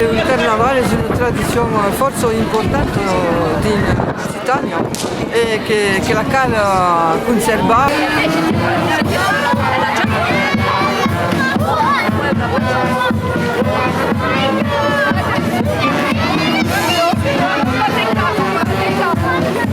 Un carnaval es una tradicion fòrça importanta dins l'Occitània e que la cal conservar.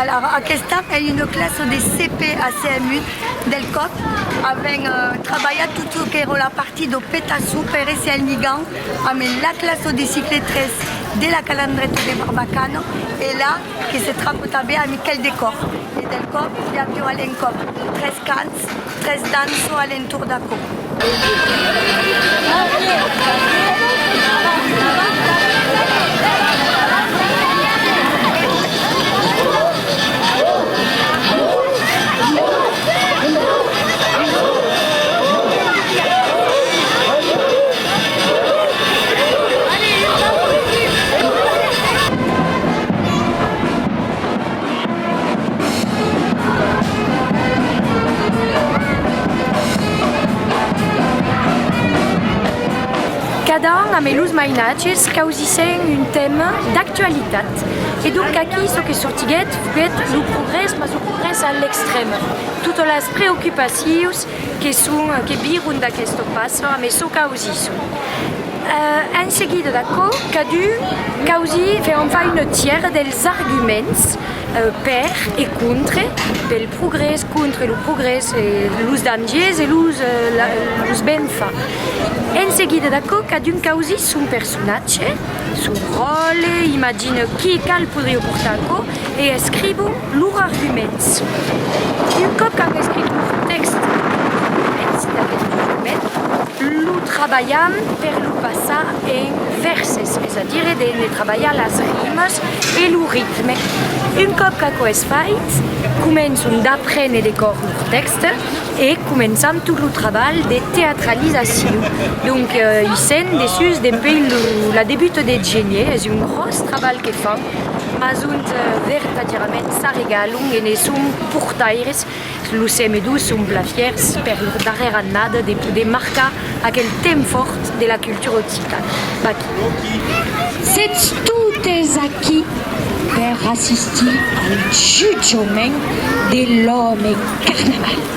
Alara, aquesta ei una classa de CP a CMU del còp avèm trabalhat tot çò qu'èra la partie do petaço per èsser al ligan amb la classa de cicletres de la Calandreta de Barbacana e la que se trapotava a Miquèl de Còr e del còp i aviá a l'encòp tres cans Tres danço a l'entorn d'aquò. Cada an amé los mainatges causissèm un tèma d'actualitat e donc aquí çò que sortiguèt foguèt lo progrès mas lo progrès a l'extrèm. Totas las preocupacions que son, que viron d'aquesto passo a messo causisson. En seguida d'aquò, cadun causi fe en fa una tièra dels arguments per e contre, pel progrès, contre lo progrès, los dangers e los, los benfa. En seguida d'aquò, cadun causi son personatge, son ròle, imagina qui, qual podrió portar aquò e escrivo. Lur arguments. Un còp qu'an escrit lur tèxt dins d'aquest document, lo trabalhan per lo passar en vèrses, es a dire de ne trabalhar las rimas e lo ritme. Un còp qu'aquò es fait, començan d'aprene de còr lur tèxt e començan tot lo trabalh de teatralizacion. Donc, i sèn dessús dempuèi la debuta de Genier, es un gròs trabalh que fan. mas ont vertadièrament s'arregalon e ne son portaires los semedots son plan fièrs per lor darrèra annada de poder marcar aquel temps fòrt de la cultura occitana. Sètz totes aquí per assistir al jutjament de l'òme Carnaval.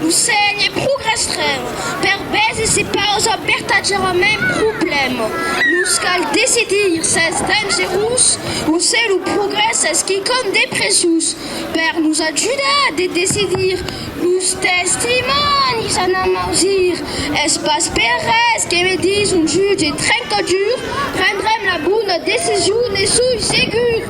Lo sènh es pro restrènh per bèth e se pausa vertadièrament problèma. Nos cal decidir s'es dangerós o se lo progrès es quicòm de preciós. Per nos ajudar de decidir, los testimònis an a mausir. Es pas per res que me dís un jutge trencadur, prendrem la bona decision, ne soi segur.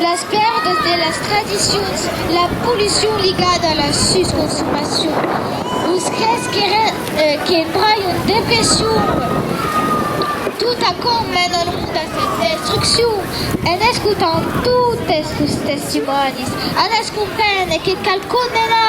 Las pèrdas de las tradicions, la pollucion ligada a la sus consomacion, los crèts que empraion depression, tot aquò mena lo mond a sa destruccion. En escotant totes los testimònis, an es comprene que cal condenar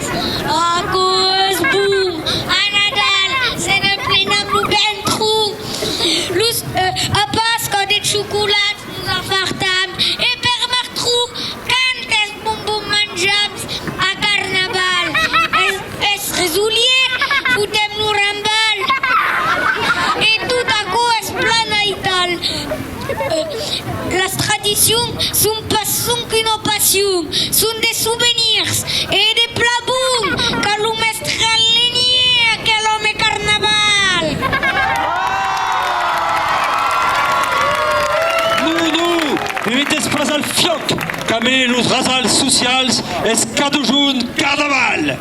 Aquò es bon! A Nadal se n'emplen amb lo ventru. Los a Pasca de chocolats nos afartam e per martru quantes bonbons manjams! A Carnaval es resolièt, fotem lo rambal e tot aquò es plan aital. Las tradicions son pas sonque una passion, son de sovenirs, e de plan bon qu'a lo mèstre Alenier aquel òme carnaval! Non, non, e meteis pas al fiòc, qu'a mai los rasals socials es cadujun carnaval!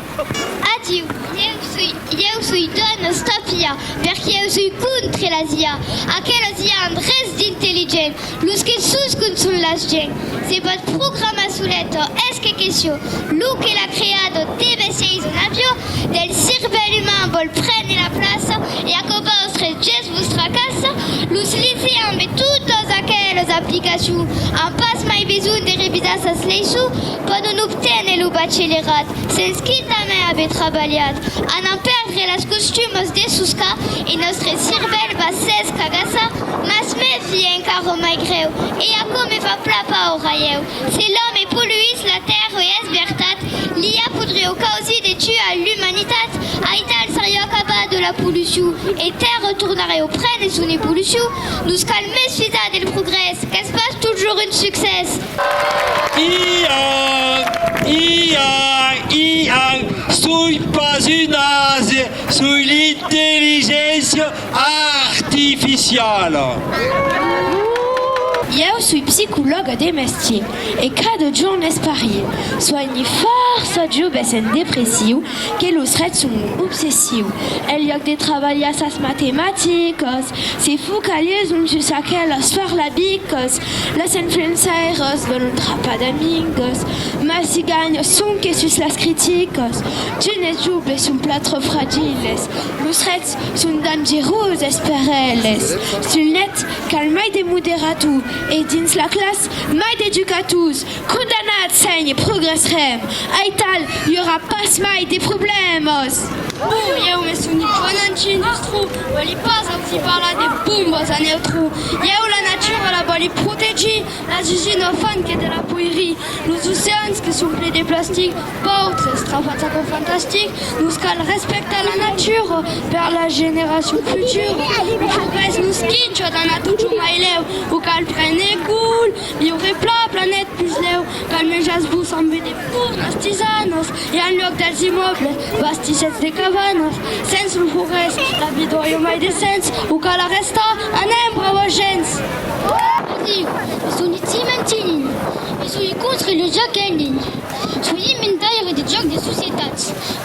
Adiu, ieu soi Ieu soi d'on es ta fia, perque eu soi contre las IA. Aquelas IA an res d'intelligent, los que suscon son las gents. Se pòt programar soleto, es que queció. Lo que l'a creado deve séis un avió, del cirvèl uman vòl prene la plaça e aquò vòstres gèsts vos tracassa. Los liceans e totas aquelas aplicacions an pas mai besonh de revisar sas leisons, pòdon obténer lo bachelerat. Sens qui tanben ave trabalhat a n'en perdre las costumas de soscar e nòstre cirvèl va sens cagassar, mas me fie encara mai grèu e aquò me fa pla paur aieu, se l'òme poluís la tèrra e es vertat, li a fotre au causi de tuar l'umanitat, aital serió acabar de la polucion e tèrra tornarió prene son evolucion, nos cal mes fizar del progrès qu'es pas toujours un succès. Iang, iang, iang, soi pas un ase, soi l'intelligéncia artificiala. Ieu soi psicològa de mestier e cada jorn esparie, soigni fòrça joves en depressiu que los trets son un obsessiu. En liòc de trabalhar sas matematicas, se focalizan sus aquelas farlabicas Las influençaires vòlon trapar d'amigos, mas si ganha sonque sus las criticas. D'unes joves son plan tròp fragiles, los rets son dangeroses per eles. Sul net, cal mai de moderator e dins la classa, mai d'educators. Condamnat seny progressrem, aital i aurà pas mai de problèmas. Bon, ieu me soni bon antiindustru, vòli pas auti parlar de bombas a neutru. Ieu la natura la vòli protegir, las usinas fan que de la poirie, los oceans que son ple de plastic, paucs estrafats aquò fantastic, nos cal respectar la natura per la generacion futura, lo progrès nos quincha d'anar totjorn mai lèu, o cal prene cul. I auré pla planet puslèu qu'al menjatz vos ambe de fornas, tisanas e en luòc dels immòbles bastissètz de cabanas. Sens lo forrés la vidòi o mai de sens o cal arrestar. Anem, brava gents! Osiu, bisogni ti mentir nin, bisogni contri lo ja qu'èn nin. Solie mentaire de jòc de societat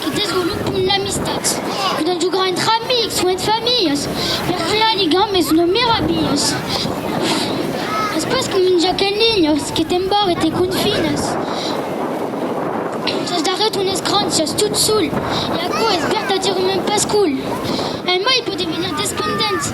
que desvolopon l'amistat. Podèm jogar entre amics o entre familhas per crear ligames no merabilhas. Es pas com un jòc en linha que t'embarra e te confinas. Sos darrèr tones cràncias tot sol e aquò es vertadièrament pas cool. Emai pòde venir despendent.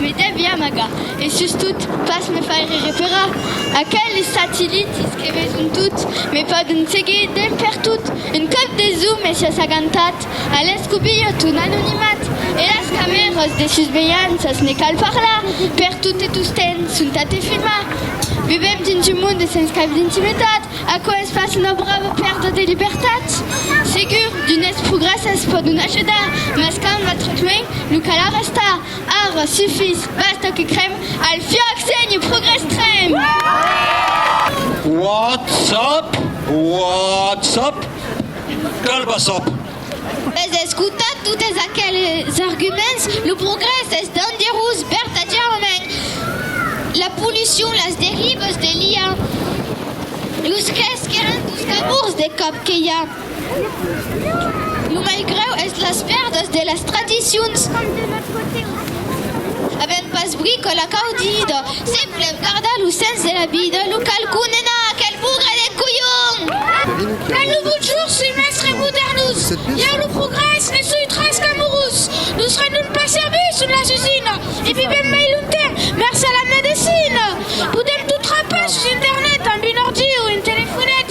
Me devi amagar e sustot pas me faire referar aqueles satilitis que veson tot, me pòden seguir d'en pertot. Un còp des o me siás agantat a l'escobilho ton anonimat e las camèras de susvelhanças, ne cal parlar, pertot e tostemp son tà te filmar. Vivèm dins un monde sens cap d'intimitat, aquò es pas una brava pèrda de libertat? Segur, d'unes progrèsses pòdon ajudar, mas quand va tròp luenh, lo cal arrestar. Ara sufís, basta que crèm. Al fiòc, senhe, progrès trèm! Whatsapp, whatsapp, calbassap! Ves escotat totes aqueles arguments? Lo progrès es dangerós vertadièrament. La pollucion, las derivas de l'IA, los cre's qu'èran dos cabords de còp que i a. Lo mai grèu es las pèrdas de las tradicions. Avèm pas bricola caudida, semblèm gardar lo sens de la vida, lo cal condenar aquel bougre de colhon! Ven lo bon jorn, soi mèstre modernus, ieu lo progrès ne soi tras qu'amorus, nos rendon pas servici son las usines e vivèm mai longtemps mèrcé a la medecina! Poder tot trapar sus internet amb un ordi o un telefonet.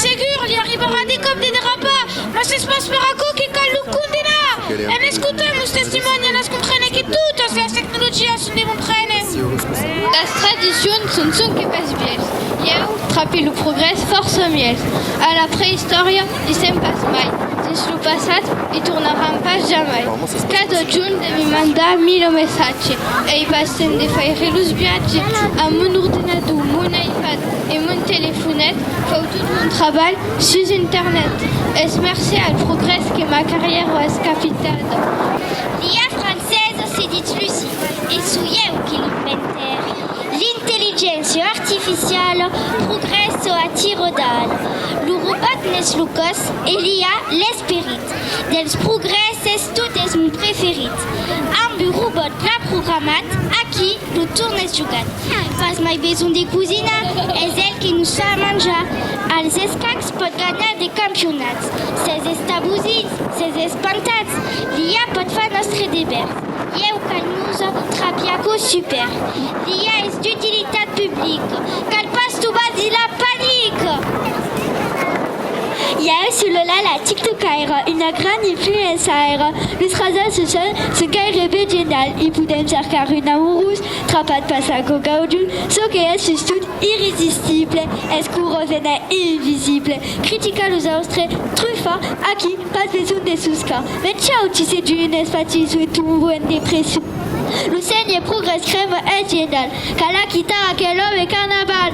Segur, li arribarà de còp de derrapar, mas es pas per aquò que cal lo condenar. En escotant los testimònis anas comprene que totas las tecnologias son de bon prene. Las tradicions son sonque pas vièlhs. Ieu trape lo progrès fòrça mièlhs. A la preistòria, Dissèm pas mai, dins lo passat i tornaram pas jamai. Qu'a totjorn de me mandar mil messatge, ei pas temps de faire los viatge amb mon ordenador, mon iPad e mon telefonet, fau tot mon trabalh sus internet. Es mercé al progrès que ma carrièra es capitada. Dia francesa, se ditz Luci, e soi eu que l'inventèri. L'intelligéncia artificiala progrèssa a tiro d'al. Lo robòt n'es lo còs e l'IA l'esperit. Dels progrèsses tot es mon preferit. Amb un robòt plan programat, aquí lo torn es jogat. Pas mai besonh de cosinar, es el que nos fa a manjar. Als escacs pòt ganhar de campionats. Sètz estabosits, sètz espantats, l'IA pòt far nòstre deber. Ieu calnusa trapiaco super dia es d'utilitat public cal pas tu bas di la panic. Ieu su lo la la tiktokaire una gran influençaire los rasas socials son gairebe genial i podem cercar un amorós trapat passaco gaudun çò que es sustot irresistible es cor revena invisible critica los austres trufa aquí pas besonh de suscar Veciau ti se duu n'es fati sui tumbu en depression. Lo sègne progrès crèma es genial, cala quitar aquel òme carnaval.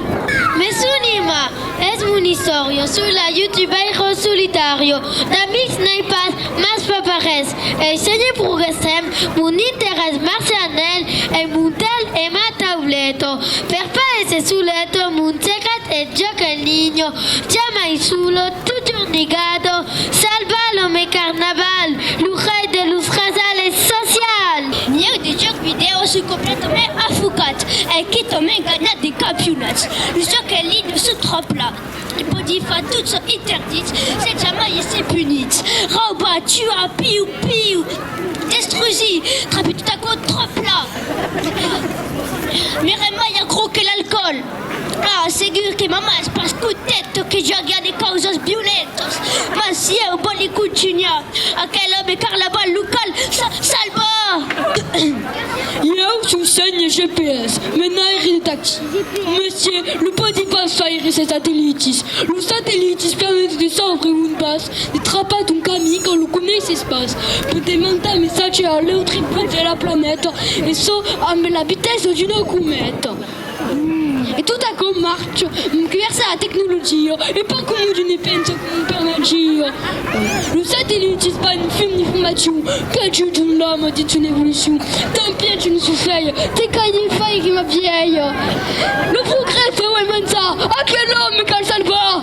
Me son Irma, es mon istòria sui la youtubairo solitario, d'amics n'ai pas, mas fa pas res, ei sègne progrès trèm mon interès marcian nel ei mon tel e ma tauleto per pas èsser soleto mon teclat e jòc en linho, jamai solo, totjorn ligado, Salva lo me carnaval, lo rei de los rasales socials! Mièu de jòc vidèo soi completament afocat e quitament ganhat de campionats. Lo jòc en linha se tròp la, e pòdi far tot çò interdit sens jamai èsser punit. Raubar, tuar, piu piu, destrusir, trape tot aquò tròp la. M'èra mai aquò que l'alcoòl. Ah, segur que m'an mas pas contet tot que javiá de causas violentas, mas si eu vòli contunhar, aquel òme carnaval local s'a salvar! Ieu sou sénher GPS, me n'airi de taxi. Monsieur, lo pòdi pas faire se satelitis. Los satelitis permeten de sauvre un bas, de trapar ton camí quand lo coneisses pas, per de mandar messatge a l'autre bot de la planeta, e çò amb la vitessa d'una cometa. E tot aquò marcha gràcia a la tecnologia e pas coma jo ne pensa per magia. Los satellits pas un film d'informacion qu'ajudan l'òme dins son evolucion, tanpien se nos susvelha de caire faire ma vièlha. Lo progrès feu immensa, aquel òme cal salvar.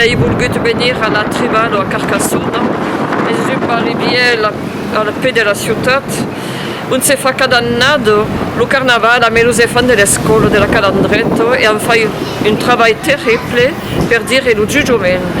Ai volgut venir a la Tribal o a Carcassona, es un barri vièlh al pè de la ciutat ont se fa cada annada lo carnaval amb los enfants de l'escòla de la Calandreta e an fai un trabalh terrible per dire lo jujoment.